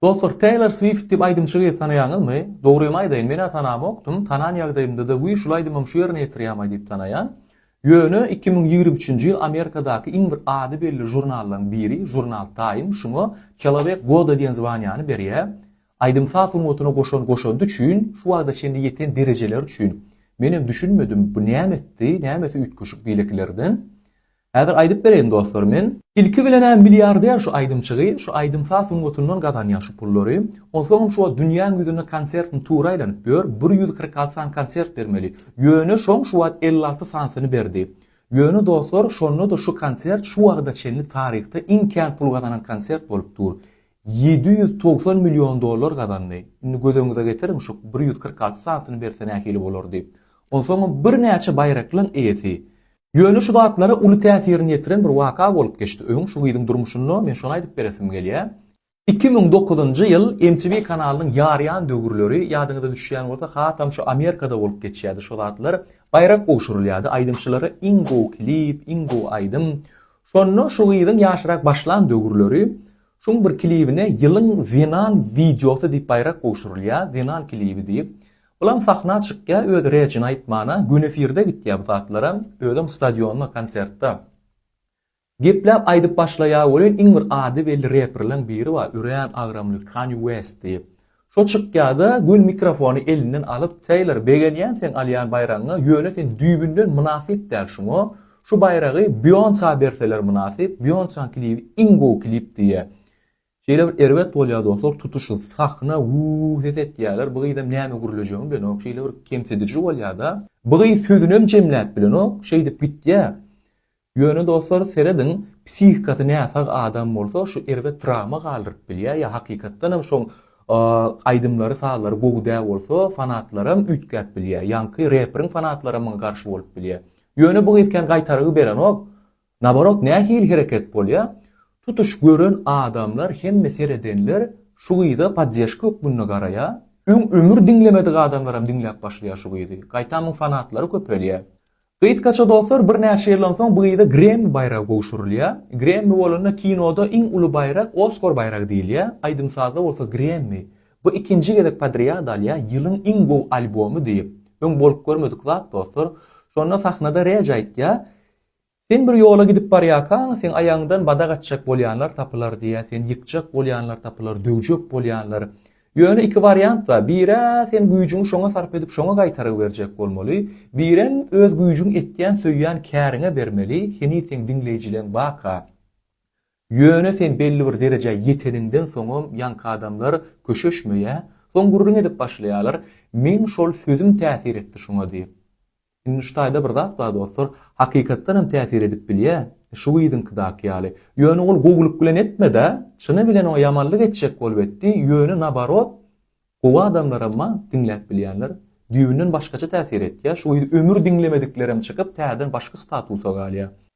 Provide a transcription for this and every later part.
Dostlar Teýlor Swift diýip aýdymçy gyzy tanaýaňyzmy? Dogrymy aýdaýyn menä tanamokdym, tanan ýagdaýymdada wiý şul aýdymam şu ýerine ýetirýämaý diýip tanaýan. Ýöne iki müň ýigrimi üçünji ýyl Amerikadaky iň bir ady belli žurnallaryň biri žurnal Time şuňa Çelowek goda diýen zwanýany berýä. Aýdym saz sungatyna goşan goşandy üçin, şu wagta çenli ýeten derejeleri üçin. Menem düşünmedim bu näme etdi, nämesi üýtgeşik beýlekilerden. Häzir aýdyp bereýin dostlar men. Ilki bilenä milliarder şu aýdymçygy şu aýdym saz sungatyndan gazanýa şu pullary, onsoňam şuwagt dünýäň ýüzünde konsertini tura aýlanyp ýör, bir ýüz kyrk alty sany konsert bermeli, ýöne şoň şuwagt elli alty sanysyny berdi. Ýöne dostlar şondada şu konsert şu wagda çenli taryhda iň kän pul gazanan konsert bolup dur. Ýedi ýüz togsan million dollar gazandy. Indi göz öňüňize getiriň şu bir ýüz kyrk alty sanysyny berse nähili bolardy. Onsoňam bir näçe baýraklaň eýesi. Ýöne şu zatlara uly täsirini ýetiren bir waka bolup geçdi. Öň şu gyzyň durmuşynda, men şony aýdyp beresim gelýär. Iki müň dokuzynjy ýyl MTV kanalynyň ýarýan döwürleri, ýadyňyza düşýän bolsa, hasam şu Amerikada bolup geçýärdi şu zatlar. Baýrak gowşurylýardy, aýdymçylara iň gowy klip, iň gowy aýdym. Şonda şu gyzyň ýaşyrak başlan döwürleri, şuň bir klibine Ýylyň zenan wideosy diýip baýrak gowşurylýar, zenan klibi diýip. Bulam sahna çykýa öz rejini aýtmana gün efirde gitýa bu zatlara özem stadionda konsertda gepläp aýdyp başlaýa welin iň bir ady belli reprleň biri bar örän agramly Kanye West diýip şo çykýada gün mikrofony elinden alyp Teýlor begenýän seň alýan baýragyňa ýöne sen düýbünden mynasyp däl şuňa şu baýragy Beonsa berseler mynasyp Beonsaň klibi iň gowy klip diýýä Şeýle bir erbet bolýar dostlar tutuş sahna wuu ses etýäler bu gyzam näme gürlejegini bilenok şeýle bir kemsidiji bolýada bu gyz sözünem jemläp bilenok şeýdip gitýä ýöne dostlar serediň psihikasy näsag adam bolsa şu erbet trawma galdyryp bilýä ýa hakykatdanam şoň aýdymlary sazlary gowy dä bolsa fanatlaram üýtgäp bilýä ýaňky reperiň fanatlary muňa garşy bolup bilýä ýöne bu gyz kän gaýtargy berenok Naborot nähili hereket bolýa tutuş gören adamlar hemme seredenler şu gyza poddežka hökmünde garaýa öň ömür diňlemedik adamlaram diňläp başlaýa şu gyzy gaýtam muň fanatlary köpelýä gysgaça dostlar bir näçe ýyldan soň bu gyza gremmi baýragy gowşurylýa gremmi bolanda kinoda iň uly baýrak oskor baýragy diýilýä aýdym sazda bolsa gremmi bu ikinji gezek podrýad alýa ýylyň iň gowy albomy diýip öň bolup görmedik zat dostlar şonda sahnada reg aýtýa Sen bir ýola gidip barýarkaň, seň aýagyňdan badak atjak bolýanlar tapylar diýýär, seni ýykjak bolýanlar tapylar, döwjek bolýanlar. Ýöne iki wariant bar, bir-ä sen güýjüňi şoňa sarp edip şoňa gaýtarygy berjek bolmaly, birem öz güýjüň etýän söýýän käriňe bermeli, heniz seň diňleýjileň baka. Ýöne sen belli bir derejä ýeteniňden soňam ýaňky adamlar köşeşmeýär, soň gürrüň edip başlaýarlar, meň şol sözüm täsir etdi şoňa diýip. Indi şu taýda bir zat bar dostlar, hakykatdan hem täsir edip bilýä, şu gyzyňkydaky ýaly. Ýöne ol gowulyk bilen etme-dä, çyny bilen oňa ýamanlyk etjek bolup etdi, ýöne nabarot, gowy adamlaram bar, diňläp bilýänler. Düýbünden başgaça täsir etýär, şu gyzy ömür diňlemediklerem çykyp, täzeden başga statusa galýar.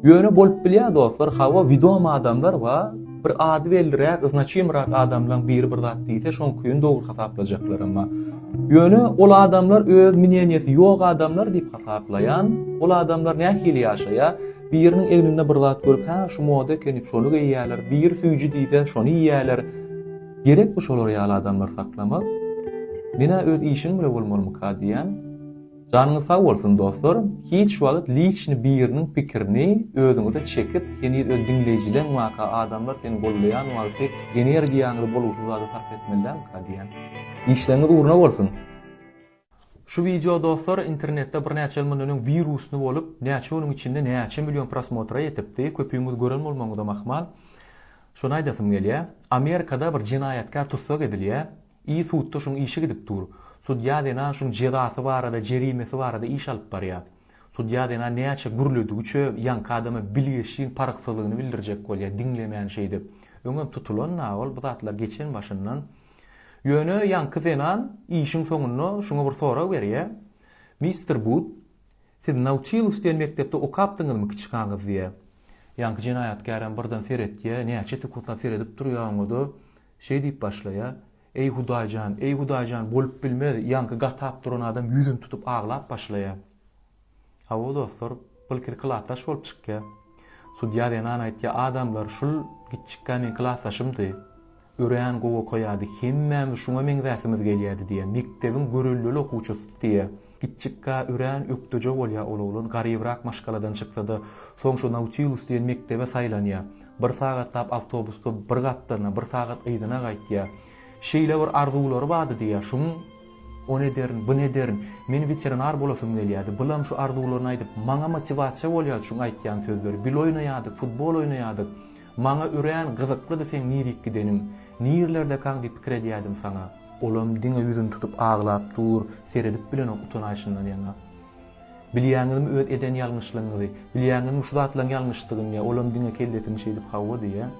Ýöne bolup bilýär dostlar hawa widom adamlar wa bir ady belliräk znaçimrak adamlaň biri bir zat diýse şoň küýün dogry hasaplajaklar emma Ýöne ol adamlar öz mineniýesi ýok adamlar diýip hasaplaýan ol adamlar nähili ýaşaýa biriniň egninde bir zat görüp hä şu moda ekeni şony geýýäler biri süýji diýse şony iýýäler Gerekmi şolar ýaly adamlar saklamak? Menä öz işiň bile bolmalymyka diýýän. Janyňyz sag bolsun dostlar, hiç wagyt liçni biriniň pikirini özüňize çekip heniz öz diňleýjileň waka adamlar seni gollaýan wagty energiýaňyzy bolgusyz zada sarp etmelilämika diýän. Işleňiz ugruna bolsun! Şu wideo dostlar internetde birnäçe ýyl mundan öň wirusny bolup näçe günüň içinde näçe million prosmotra ýetipdi köpüňiz gören bolmagyňyzam ahmal. Şony aýdasym gelýä. Amerikada bir jenaýatkär tussag edilýä. I sudda şuň işi gidip dur. Sudýa zenan şuň jezasy barada, jerimesi barada iş alyp barýar. Sudýa zenan näçe gürledigiçe ýaňky adama bilgeşiň parhsyzlygyny bildirjek bolýar, diňlemän şeýdip. Öňem tutulan-a ol bu zatlar geçen başyndan. Ýöne ýaňky zenan işiň soňunda şuňa bir sorag berýär, Mister Bud, siz Nautilus diýen mekdepde okapdyňyzmy kiçikaňyz diýýär. Ýaňky jenaýatkärem birden seretýär, näçe sekuntlap seredip durýar oňa-da. Şeý diýip başlaýar, Eý, Hudaý jan, eý, Hudaý jan, bolup bilmez, ýaňky gatap duran adam ýüzüni tutup aglap başlaýar. Hawa, dostlar, Bilkis klasdaş bolup çykýar. Sudýa zenan aýtýar, Adamlar, şul gitjikkä meň klasdaşymdy. Örän gowy okaýardy, hemmämiz şuňa meňzäsimiz gelýärdi diýýär. Mekdebiň göreldeli okuwçysy diýýär. Kiçjikkä örän ökdeje bolýar ol oglan, garybrak maşgaladan çyksa-da, soň şu Nautilus diýen mekdebe saýlanýar. Bir sagatlap awtobusda bir gapdalyna, bir sagat yzyna gaýtýar. Şeýle bir arzuwlary bardy diýýär, şum ony ederin, buny ederin, men weterinar bolasym gelýärdi, bulam şu arzuwlaryny aýdyp, maňa motiwasiýa bolýardy şuň aýtýan sözleri, bil oýnaýardyk, futbol oýnaýardyk, maňa örän gyzyklydy seň nirik gideniň, nirlerdekaň diýip pikir edýärdim saňa. Olam diňe ýüzüni tutup aglap dur, seredip bilenok utanaýşyndan ýaňa. Bilýäňizmi öz eden ýalňyşlygyňyzy? Bilýäňizmi şu zatlaryň ýalňyşdygyny diýýär, olam diňe kellesini şeýdip hawa diýýär.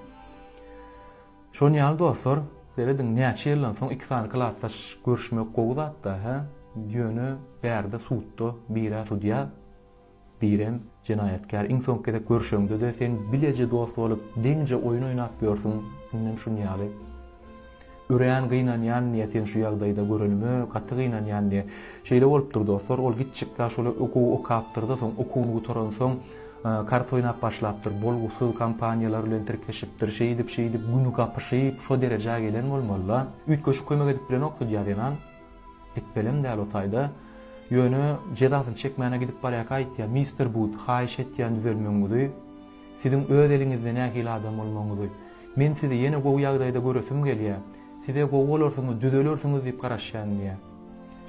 Şonuň ýaly dostlar, serediň näçe ýyldan soň iki sany klasdaş görüşmek gowy zatda hä, ýöne bärde sudda birä sudýa Birem, jenaýatkär, iň soňky gezek görşeňde-de, sen bileje dost bolup, deňje oýun oýnap ýörsüň, indem şuny ýaly. Örän gynanýan diýýä, seni şu ýagdaýda görenime gaty gynanýan diýýä. Şeýle bolupdyr, dostlar, ol gitjek-la şol okuwy okapdyr-da, soň okuwyny gutaransoň, kart oýnap başlapdyr, bolgusyz kompaniýalar bilen tirkeşipdir, şeýdip-şeýdip, güni gapyşyp, şo derejä gelen bolmaly-la. Üýtgeşik kömek edip bilenokdy diýýä zenan. Etbelim däl o taýda. Ýöne jezasyny çekmäne gidip barýarka aýtýar, Mister Bud, haýyş etýän düzelmegiňizi, siziň öz eliňizde nähili adam bolmagyňyzy. Men sizi ýene gowy ýagdaýda göresim gelýär. Size gowy bolarsyňyz, düzelersiňiz diýip garaşýan diýýär.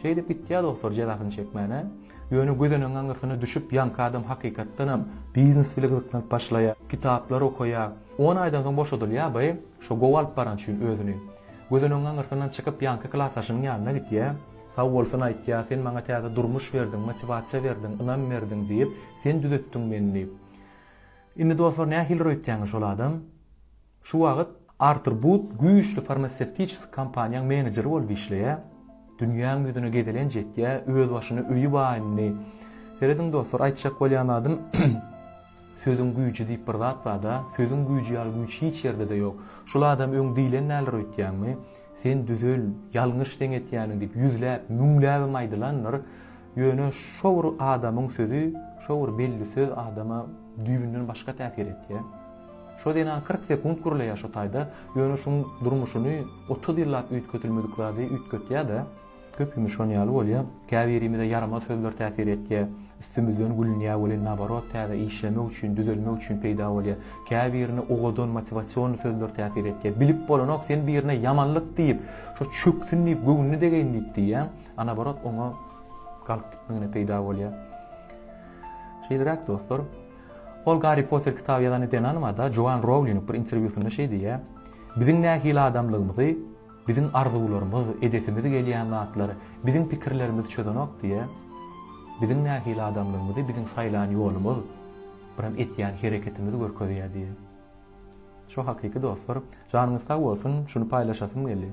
Şeýdip gitýär dostlar jezasyny çekmäne. Ýöne gözenegiň aňyrsyna düşüp ýanky adam hakykatdanam biznes bile gyzyklanyp başlaýar. Kitaplar okaýar. On aýdan soň boşadylýar by, şo gowy alyp baran üçin özüni. Gözüniň aňyrsyndan çykyp ýanky klasdaşynyň ýanyna gitýä. Sag bolsun aýtýa, sen maňa täze durmuş berdiň, motiwasiýa berdiň, ynam berdiň diýip, sen düzetdiň meni diýip. Indi dostlar nähilidir öýtýäňiz şol adam. Şu wagyt Artur Bud güýçli farmasewtiçeski kompaniýaň menejeri bolup işleýä. Dünýäň ýüzüne gezelenç etýä, özbaşyna öýi baýny. Serediň dostlar aýtjak bolýan zadym. Sözüň güýji diýip bir zat barda, sözüň güýji ýaly güýç hiç ýerdede ýok. Şul adam öň diýlen däldir öýtýäňmi? Sen düzel, ýalňyş seň etýäniň diýip ýüzläp, müňläbem aýdylandyr. Ýöne şo bir adamyň sözi, şo bir belli söz adama düýbünden başga täsir etýär. Şo zenan kyrk sekunt gürleýär şo taýda, ýöne şuň durmuşyny otuz ýyllap üýtgetilmedik zady üýtgetýär-de. Köpimiz şon ýaly bolýa. Käbirimize ýaramaz sözler täsir etýä. Üstümizden gülünýä welin naborot täze işlemek üçin, düzelmek üçin peýda bolýa. Käbirine owadan motiwasion sözler täsir etýä. Bilip bolanok sen birine ýamanlyk diýip, şo çöksün diýip göwnüni degeýin diýip diýýäň. A naborot oňa galyp gitmegine peýda bolýa. Şeýleräk dostlar. Ol Garri Potter kitaby ýazan Denan Mada Joan Rowling bir interwýusynda şeý diýýä. Biziň nähili adamlygymyzy Biziň arzuwlarymyz, edesimiz gelýän zatlar biziň pikirlerimizi çözenok diýä. Biziň nähili adamlygymyzy biziň saýlan ýolumyz, biram etýän hereketimiz görkezýär diýä. Şo hakyky dostlar. Janyňyz sag bolsun, şuny paýlaşasym geldi.